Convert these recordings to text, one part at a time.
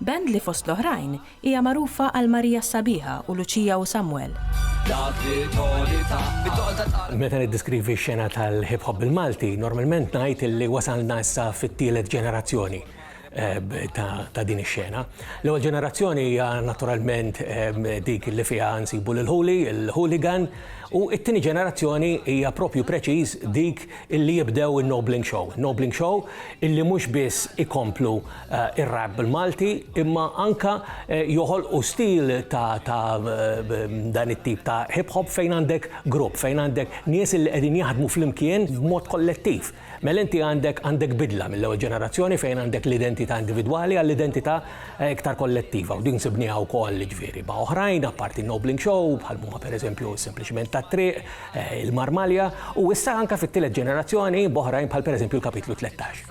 Band li fost l-oħrajn hija magħrufa għal Marija s-Sabiħa u Luċija u Samwel. Meta niddiskrivi x-xena tal-hip hop bil-Malti, normalment ngħid illi wasalna issa fit-tielet ġenerazzjoni eh, ta' din ix-xena. L-ewwel ġenerazzjoni hija naturalment eh, dik li fiha nsibu lil ħuli, il-hooligan, u it-tieni ġenerazzjoni hija propju preċiż dik illi jibdew in-Nobling Show. Nobling Show illi mhux biss ikomplu ir-rap bil-Malti imma anke joħolqu stil ta' dan it-tip ta' hip hop fejn għandek grupp, fejn għandek nies li qegħdin jaħdmu flimkien b'mod kollettiv. Mela inti għandek għandek bidla mill-ewwel ġenerazzjoni fejn għandek l-identità individwali għall-identità iktar kollettiva u din sibnieha wkoll jiġifieri ma' oħrajn apparti Nobling Show bħal huma pereżempju Sempliċement tat-Triq, Il-Marmalja u issa anke fit-tielet ġenerazzjoni b'oħrajn bħal pereżempju l-Kapitlu Tlettax.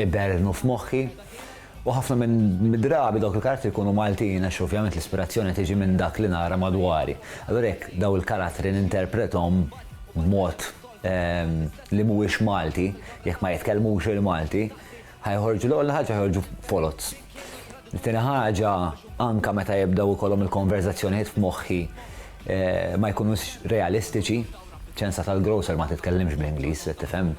iberrnu f'moħħi. U ħafna mid-drabi dawk il-karattri jkunu Maltin għax ovvjament l-ispirazzjoni tiġi minn dak li nara madwari. Allura jekk dawn il-karattri ninterprethom b'mod li mhuwiex Malti, jekk ma jitkellmux il-Malti, ħa joħorġu l-ewwel ħaġa ħa joħorġu foloz. It-tieni ħaġa, anke meta jibdew ikollhom il-konverżazzjonijiet f'moħħi ma jkunux realistiċi, ċensa tal-grocer ma titkellimx bl-Ingliż, tifhem?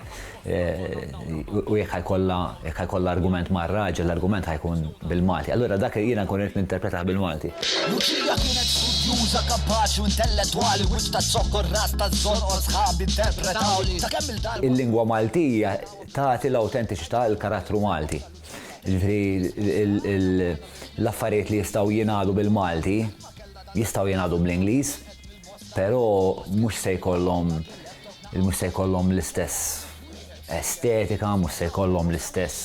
U jekk ħajkollha jekk ħajkollha argument mar-raġel, l-argument ħajkun bil-Malti. Allura dak jiena nkun irid ninterpretah bil-Malti. Luċija kienet studjuża, kapaċi u intellettwali, wiċċ taż-zokkor, ras taż-żorqor, sħabi interpretawli. Ta' kemm il-darba. Il-lingwa Maltija tagħti l-awtentiċità, il-karattru Malti. Jiġifieri l-affarijiet li jistgħu jingħadu bil-Malti jistgħu jingħadu bl-Ingliż, però mhux se jkollhom mhux se jkollhom l-istess estetika, mhux se jkollhom l-istess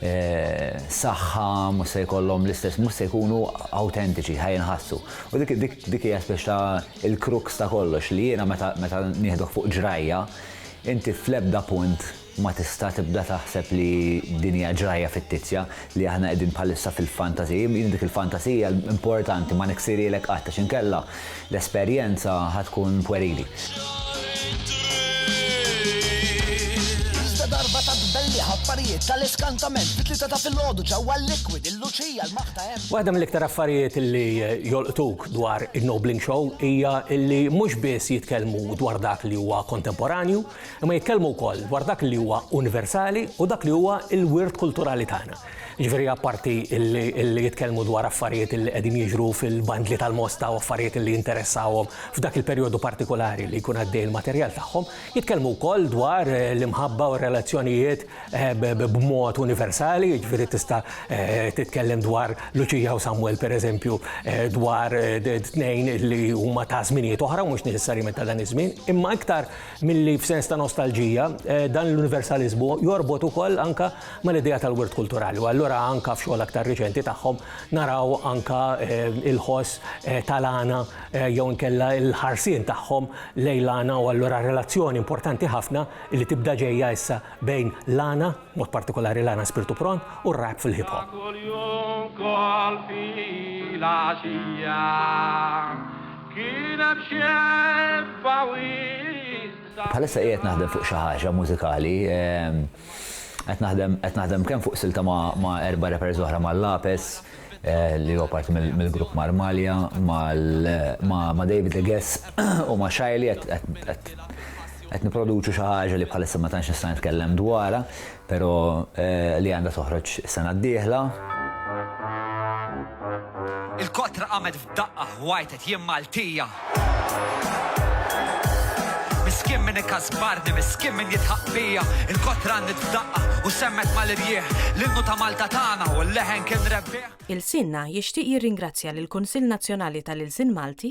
eh, saħħa, mhux se jkollhom l-istess, mhux se jkunu awtentiċi, ħajinħassu. U dik dik dik hija spiex ta' il-kruks ta' kollox li jiena meta nieħdok fuq ġrajja, inti fl-ebda punt Ma tista' tibda taħseb li din hija ġrajja fittizja, li aħna qegħdin bħalissa fil-fantasy. Jien dik il-fantasija importanti ma niksirielek qatt għax inkella l-esperjenza ħa tkun pwerili. Darba ta' tbelliħ affarijiet tal-iskantament fit-tlieta ta' filgħodu ġewwa l-liquid il-luċija l-maħ ta' hemm. Waħda mill-iktar affarijiet li jolqtuk dwar in-Nobling Show hija li mhux biss jitkellmu dwar dak li huwa kontemporanju, Imma jitkellmu wkoll dwar dak li huwa universali u dak li huwa l-wirt kulturali tagħna. Jiġifieri apparti li jitkellmu dwar affarijiet li qegħdin jiġru fil-bandli tal-mosta u affarijiet li jinteressawhom f'dak il-perjodu partikulari li jkun għaddej il-materjal tagħhom, jitkellmu wkoll dwar l-imħabba u r-relazzjonijiet b'mod universali, jiġifieri tista' titkellem dwar Luċija u Samwel pereżempju, dwar tnejn li huma ta' żminijiet oħra u mhux neċessarjament ta' dan iż-żmien, imma iktar milli f'sens ta' nostalġija dan l-universaliżmu jorbot ukoll anke mal-idea tal-wirt kulturali. U allura anke f'xogħol aktar riċenti tagħhom naraw anke il-ħoss tal-għana jew inkella l-ħarsien tagħhom lejn l-għana u allura relazzjoni importanti ħafna li tibda ġejja issa bejn l-għana, b'mod partikolari l-għana spirtu pron, u r-rap fil-hip hop. Bħalissa qiegħed naħdem fuq xi ħaġa mużikali. Qed naħdem qed naħdem kemm fuq silta ma' erba' rappers oħra ma' Lapes li huwa parti mill-grupp Marmalja, ma' David the Guess u ma' Shyly qed qed Qed nipproduċu xi ħaġa li bħalissa ma tantx nista' nitkellem dwarha, però li għandha toħroġ is-sena d-dieħla. Il-kotra qamet f'daqqa ħwajtet jien Maltija. Miskien min ikasbarni, miskien min jidħaq bija. Il-kotra għannit f'daqqa u semmet mal-irjieħ. L-innu ta' Malta tagħna u l-leħen kien rebbieħ. Ilsienna jixtieq jirringrazzja lill-Kunsill Nazzjonali tal-Ilsien Malti,